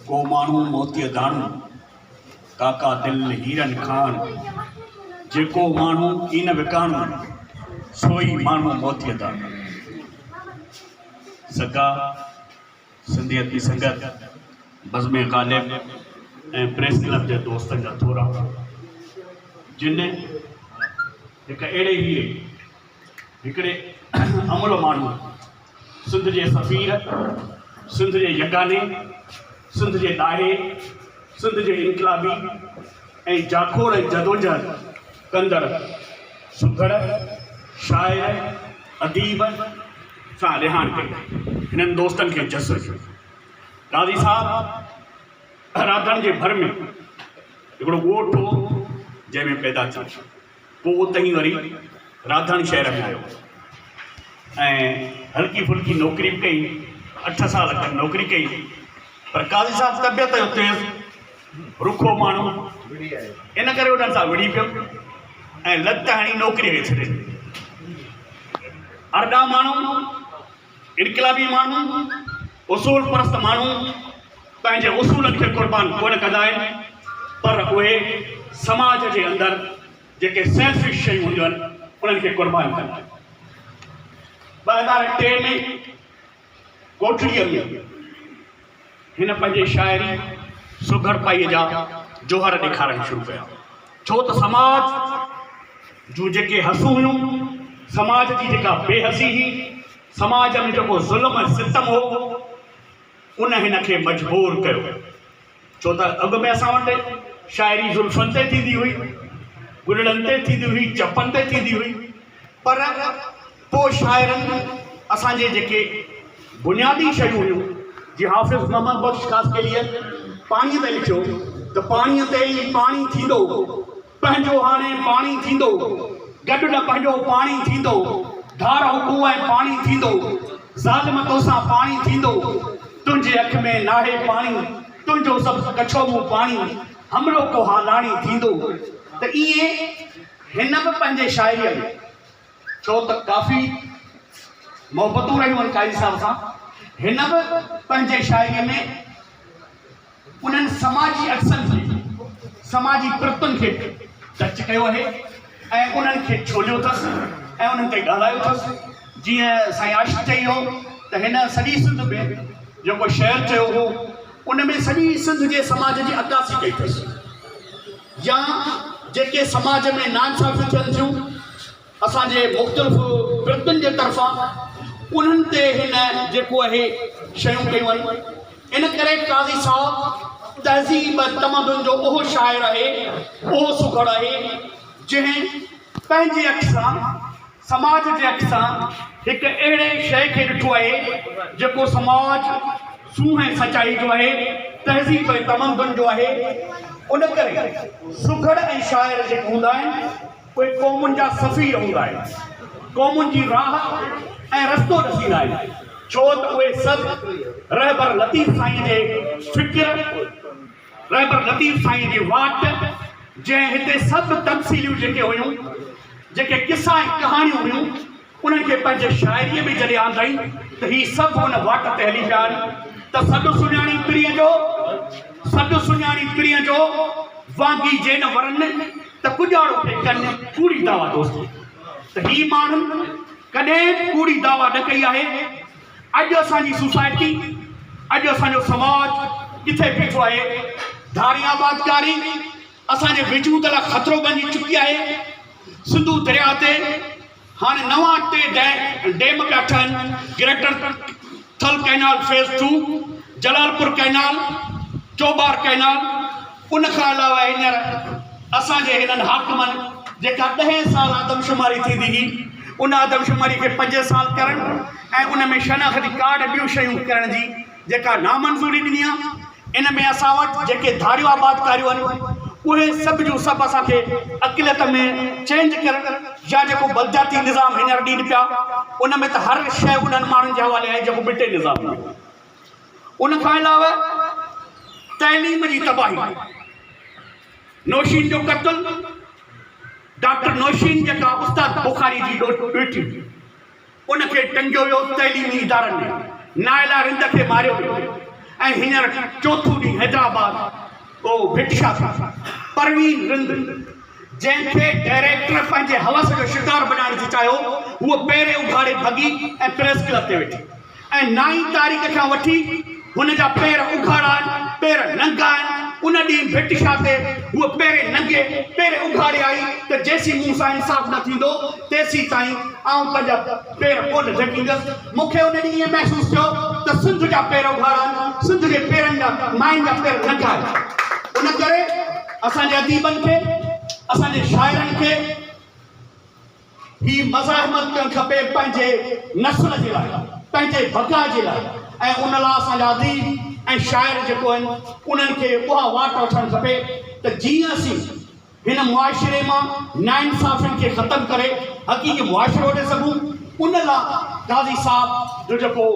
ڪو ماڻهو موتيء داڻو، ڪاڪا دل هيرن کاڻ. جيڪو ماڻهو ڪين وڪاڻو، سو ئي ماڻهو موتيء داڻو. سگا، سنڌيت جي سنگت، بزم غالب ۽ پريس ڪلب جي دوستن جا ٿورا، جن. هڪ اهڙي هيء هڪڙي امڙ ماڻهوء سنڌ جي سفير، سنڌ جي يگاني، سنڌ جي ڏاهي، سنڌ جي انقلابي ۽ جاکوڙ ۽ جدوجهد ڪندڙ سگهڙ، شاعر، اديب سان رهاڻ ڪئي. هنن دوستن کي جس رکيو. قاضي صاحب! رادڻ جي ڀر ۾ هڪڙو ڳوٺ هو جنهن ۾ پيدا ٿيو پوء اتهين وري رادڻ شهر ۾ آيو ۽ هلڪي ڦلڪي نوڪري به ڪئي اٺ سال کن نوڪري ڪئي پر قاضي صاحب طبيعت جو تيز رکو ماڻهو ان ڪري انهن سان وڙهي پيو ۽ لت هڻي نوڪري کي ڇڏي ڏني ارڏا ماڻهو انقلابي ماڻهو، اصول پرست ماڻهو پنهنجي اصولن کي قربان ڪونه ڪندا آهن پر اهي سماج جي اندر جيڪي سيلفش شيون هونديون آهن انهن کي قربان ڪندا آهن. ٻه هزار ٽي ۾ ڪوٽڙيء ۾ هن پنهنجي شاعري سگهڙپائيء جا جوهر ڏيکارڻ شروع ڪيا، ڇو ته سماج جون جيڪي حسون هيون، سماج جي جيڪا بي حسي هئي، سماج ۾ جيڪو ظلم ۽ ستم هو، ان هن کي مجبور ڪيو، ڇو ته اڳ ۾ اسان وٽ شاعري زلفن تي ٿيندي هئي، ڳرڙن تي ٿيندي هئي، چپن تي ٿيندي هئي، پر. پوء شاعرن اسان جي جيڪي بنيادي شيون هيون جي حافظ محمد بخش خاصخيليء پاڻيء تي لکيو ته پاڻيء تي ئي پاڻي ٿيندو پنهنجو هاڻي پاڻي ٿيندو گڏ نه پنهنجو پاڻي ٿيندو ڌار هڪ ۽ پاڻي ٿيندو ظالم توسان پاڻي ٿيندو تنهنجي اک ۾ ناهي پاڻي تنهنجو سبز ڪڇو مون پاڻي هم لوڪو هالاڻي ٿيندو ته ائين هن به پنهنجي شاعريء ۾ ڇو ته ڪافي محبتون رهيون آهن قائد صاحب سان هن به پنهنجي شاعري ۾ انهن سماجي عڪسن کي سماجي پرتن کي ٽچ ڪيو آهي ۽ انهن کي ڇوليو اٿس ۽ انهن تي ڳالهايو اٿس جيئن سائين عاشق چئي هو ته هن سڄي سنڌ ۾ جيڪو شعر چيو هو ان ۾ سڄي سنڌ جي سماج جي عڪاسي ڪئي اٿس يا جيڪي سماج ۾ ناانصافيون ٿين ٿيون اسان جي مختلف ورتين جي طرفان انهن تي هن جيڪو اهي شيون ڪيون آهن ان ڪري قاضي صاحب تهذيب تمدن جو اهو شاعر آهي اهو سگهڙ آهي جنهن پنهنجي اک سان سماج جي اک سان هڪ اهڙي شيء کي ڏٺو آهي، جيڪو سماج سونهن ۽ سچائي جو آهي، تهذيب ۽ تمدن جو آهي. ان ڪري سگهڙ ۽ شاعر جيڪي هوندا آهن، اهي قومن جا سفير هوندا آهن، قومن جي راهه ۽ رستو ڏسيندا آهن، ڇو ته اهي سڀ رهبر لطيف سائين جي فڪر، رهبر لطيف سائين جي واٽ جنهن هتي سڀ تمثيليون جيڪي هيون، جيڪي قصا ۽ ڪهاڻيون هيون، انهن کي پنهنجي شاعريء ۾ جڏهن آندائين ته هي سڀ ان واٽ تي هلي پيا آهن ته سڏ سڃاڻي پرينء جو، سڏ سڃاڻي پرينء جو، وانگي جي نه ورن ته ڪڄاڙو کي ڪن. ڪوڙي دعويٰ دوستو ته هي ماڻهن ڪڏهن به ڪوڙي دعويٰ نه ڪئي آهي، اڄ اسان جي سوسائٽي، اڄ اسان جو سماج ڪٿي بيٺو آهي؟ ڌارين آبادڪاري اسان جي وجود لاء خطرو بنجي چڪي آهي. سنڌو درياهه تي هاڻي نوان ٽي ڊيم پيا ٺهن، greater Thal canal phase two, Jalalpur canal, Chaubar canal, ان کان علاوه هينئر اسان جي هنن حاڪمن جيڪا ڏهين سال آدمشماري ٿيندي هئي ان آدمشماري کي پنجين سال ڪرڻ ۽ ان ۾ شناختي ڪارڊ ٻيون شيون ڪرڻ جي جيڪا نامنظوري ڏني آ ان ۾ اسان وٽ جيڪي ڌاريون آبادڪاريون آهن اهي سڀ جون سڀ اسان کي اقليت ۾ چينج ڪرڻ يا جيڪو بلدياتي نظام هينئر ڏين پيا ان ۾ ته هر شيء انهن ماڻهن جي حوالي آهي جيڪو ٻٽي نظام هو ان کان علاوه تعليم جي تباهي، نوشين جو قتل، ڊاڪٽر نوشين جيڪا استاد بخاري جي ڏوهٽي هئي، ان کي ٽنگيو ويو تعليمي ادارن ۾، نائلا رند کي ماريو ويو ۽ هينئر چوٿون ڏينهن حيدرآباد ڪو ڀٽشا ٿي ٿي. پروين رند جنهن کي ڊائريڪٽر پنهنجي هوس جو شڪار بنائڻ ٿي چاهيو، هوء پيري اگهاڙي ڀڳي ۽ پريس ڪلب تي ويٺي. ۽ نه ئي تاريخ کان وٺي هن جا پير اگهاڙا آهن، پير ننگا آهن، ان ڏينهن ڀٽشاهه تي هوء پيرين ننگي، پير اگهاڙي آئي ته جيسين مون سان انصاف نه ٿيندو، تيسين تائين آئون پنهنجا پير ڪونه جهڪيندس. مون کي ان ڏينهن ائين محسوس ٿيو ته سنڌ جا پير اگهاڙا آهن، سنڌ جي پيرن جا، ماين جا پير ننگا آهن. ان ڪري اسان جي اديبن کي، اسان جي شاعرن کي، هي مزاحمت ڪرڻ کپي پنهنجي نسل جي لاء، پنهنجي بقا جي لاء ۽ ان لاء اسان جا اديب ۽ شاعر جيڪو آهن انهن کي اها واٽ وٺڻ کپي ته جيئن اسين هن معاشري مان ناانصافين کي ختم ڪري حقيقي معاشرو وٺي سگهون ان لاء قاضي صاحب جو جيڪو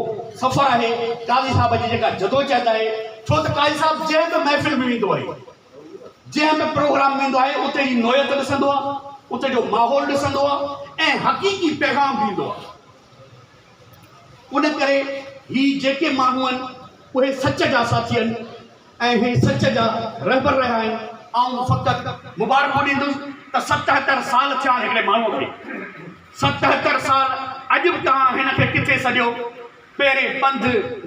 سفر آهي قاضي صاحب جي جيڪا جدوجهد آهي ڇو ته قاضي صاحب جنهن به محفل ۾ ويندو آهي جنهن به پروگرام ويندو آهي اتي جي نوعيت ڏسندو آهي، اتي جو ماحول ڏسندو آهي ۽ حقيقي پيغام ڏيندو آهي. ان ڪري هي جيڪي ماڻهو آهن اهي سچ جا ساٿي آهن ۽ هي سچ جا رهبر رهيا آهن. آئون فقط مبارڪون ڏيندس ته ستهتر سال ٿيا هڪڙي ماڻهو کي. ستهتر سال اڄ به توهان هن کي ڪٿي سڏيو؟ پهرين پنڌ،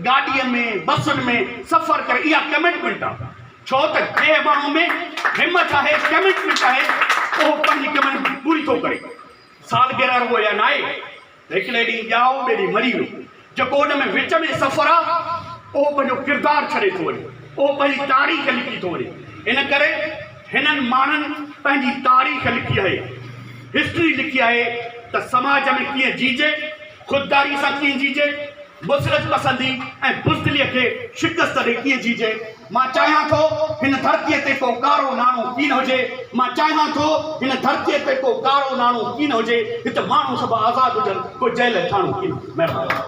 گاڏيء ۾، بسن ۾ سفر ڪري اها ڪمٽمينٽ آ ڇو ته جنهن ماڻهو ۾ همٿ آهي، ڪمٽمينٽ آهي اهو پنهنجي ڪمٽمينٽ پوري ٿو ڪري. سالگرهه رڳو اها ناهي ته هڪڙي ڏينهن ڄائو ٻئي ڏينهن مري ويو، جيڪو ان ۾ وچ ۾ سفر آ اهو پنهنجو ڪردار ڇڏي ٿو وڃي، اهو پنهنجي تاريخ لکي ٿو وڃي، ان ڪري هنن ماڻهن پنهنجي تاريخ لکي آهي، هسٽري لکي آهي ته سماج ۾ ڪيئن جيجي خودداريء سان ڪيئن جيجي، بصرت پسنديء ۽ بزدليء کي شڪست ڏئي ڪيئن جيجي. مان چاهيان ٿو هن ڌرتيء تي ڪو ڪارو ناڻو ڪين هجي، مان چاهيان ٿو هن ڌرتيء تي ڪو ڪارو ناڻو ڪين هجي، هت ماڻهو سڀ آزاد هجن، ڪو جيل ۽ ٿاڻو ڪين هجي. مهرباني.